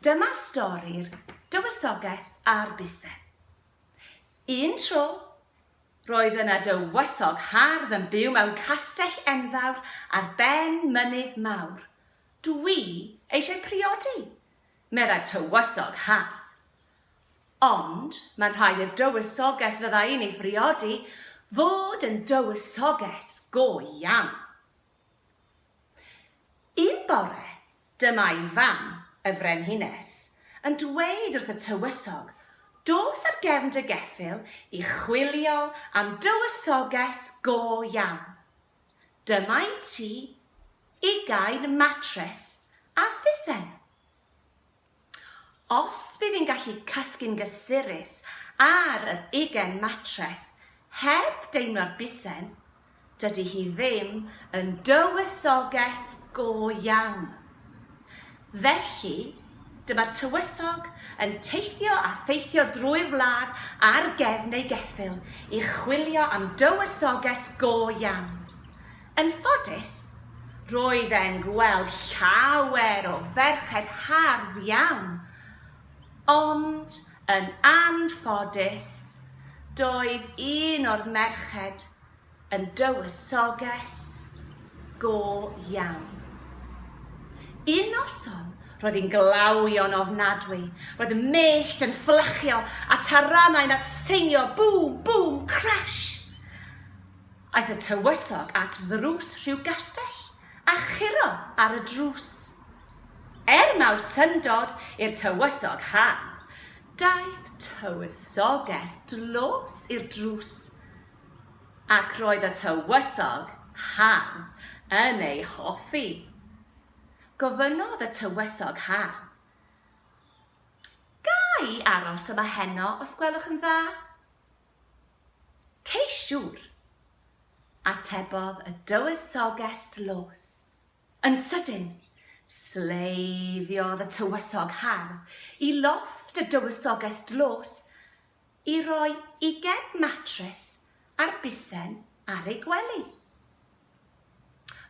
Dyma stori'r Dywysoges a'r Bise. Un tro, roedd yna dywysog hardd yn byw mewn castell enfawr ar ben mynydd mawr. Dwi eisiau priodi, meddai tywysog hardd. Ond mae'n rhaid i'r dywysoges fydda i'n ei phriodi fod yn dywysoges go iawn. Un bore, dyma ei fam, y Frenhines, yn dweud wrth y tywysog, Dos ar gefn dy geffyl i chwilio am dywysoges go iawn. Dyma i ti ugain matres a phusen. Os bydd hi'n gallu cysgu'n gysurus ar yr ugain matres heb deimlo'r bisen, dydy hi ddim yn dywysoges go iawn. Felly, dyma'r tywysog yn teithio a theithio drwy'r wlad ar gefn ei geffyl i chwilio am dywysoges go iawn. Yn ffodus, roedd e'n gweld llawer o ferched hardd iawn, ond yn anffodus, doedd un o'r merched yn dywysoges go iawn. Un noson, roedd hi'n glawio'n ofnadwy, roedd y mellt yn fflachio a taranau'n atseinio, bŵm, bŵm, crash! Aeth y tywysog at ddrws rhyw gastell, a churo ar y drws. Er mawr syndod i'r tywysog haf, daeth tywysoges dlos i'r drws, ac roedd y tywysog haf yn ei hoffi. Gofynnodd y tywysog haf, Ga i aros yma heno, os gwelwch yn dda? Ceis siŵr! atebodd y Dywysoges Laws. Yn sydyn, sleiddiodd y Tywysog Hardd i lofft y Dywysoges Laws i roi ugain matres ar busen ar ei gwely.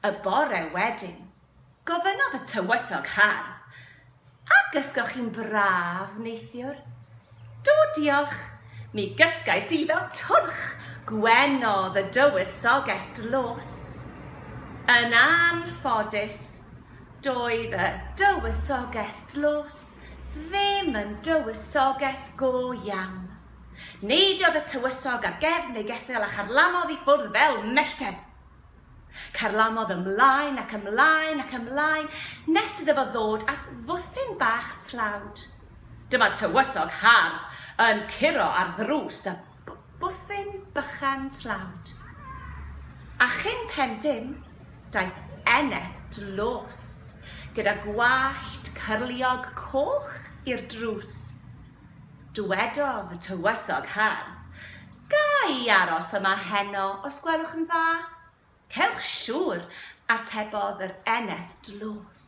Y bore wedyn, gofynnodd y tywysog hardd, A gysgoch chi'n braf, neithiwr? Do, diolch. Mi gysgais i fel twrch, gwenodd y dywysoges dlos. Yn anffodus, doedd y dywysoges dlos ddim yn dywysoges go iawn. Neidiodd y tywysog ar gefn ei geffyl a charlamodd i ffwrdd fel mellten. Carlamodd ymlaen ac ymlaen ac ymlaen nes iddo fo ddod at fwthyn bach tlawd. Dyma'r tywysog hardd yn curo ar ddrws y bwthyn bychan tlawd. A chyn pen dim, daeth Eneth dlos gyda gwallt cyrliog coch i'r drws. Dywedodd y Tywysog Hardd, Ga i aros yma heno os gwelwch yn dda? Cewch siŵr, atebodd yr eneth dlos.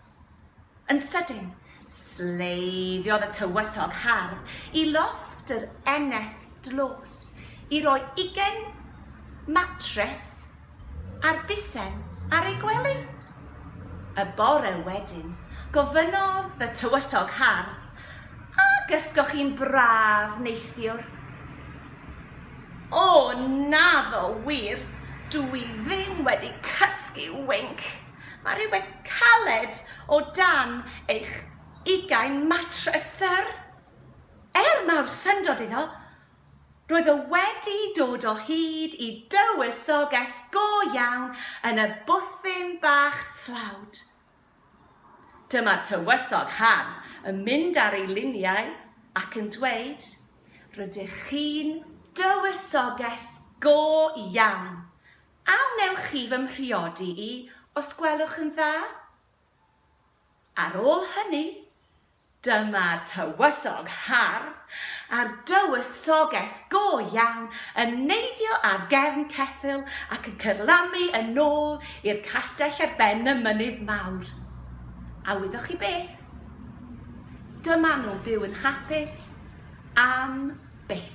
Yn sydyn, sleifiodd y Tywysog Hardd i lofft yr eneth dlos i roi ugain matres a'r bisen ar ei gwely. Y bore wedyn, gofynnodd y tywysog hardd, A gysgoch chi'n braf neithiwr? O, naddo wir, dw i ddim wedi cysgu winc. Mae rhywbeth caled o dan eich ugain matres, syr. Er mawr syndod iddo, Roedd o wedi dod o hyd i dywysoges go iawn yn y bwthyn bach tlawd. Dyma'r tywysog haf yn mynd ar ei liniau ac yn dweud, Rydych chi'n dywysoges go iawn. A wnewch chi fy mhriodi i, os gwelwch yn dda? Ar ôl hynny, Dyma'r tywysog hardd a'r dywysoges go iawn yn neidio ar gefn ceffyl ac yn cyrlamu yn ôl i'r castell ar ben y mynydd mawr. A wyddoch chi beth? Dyma nhw'n byw yn hapus am byth.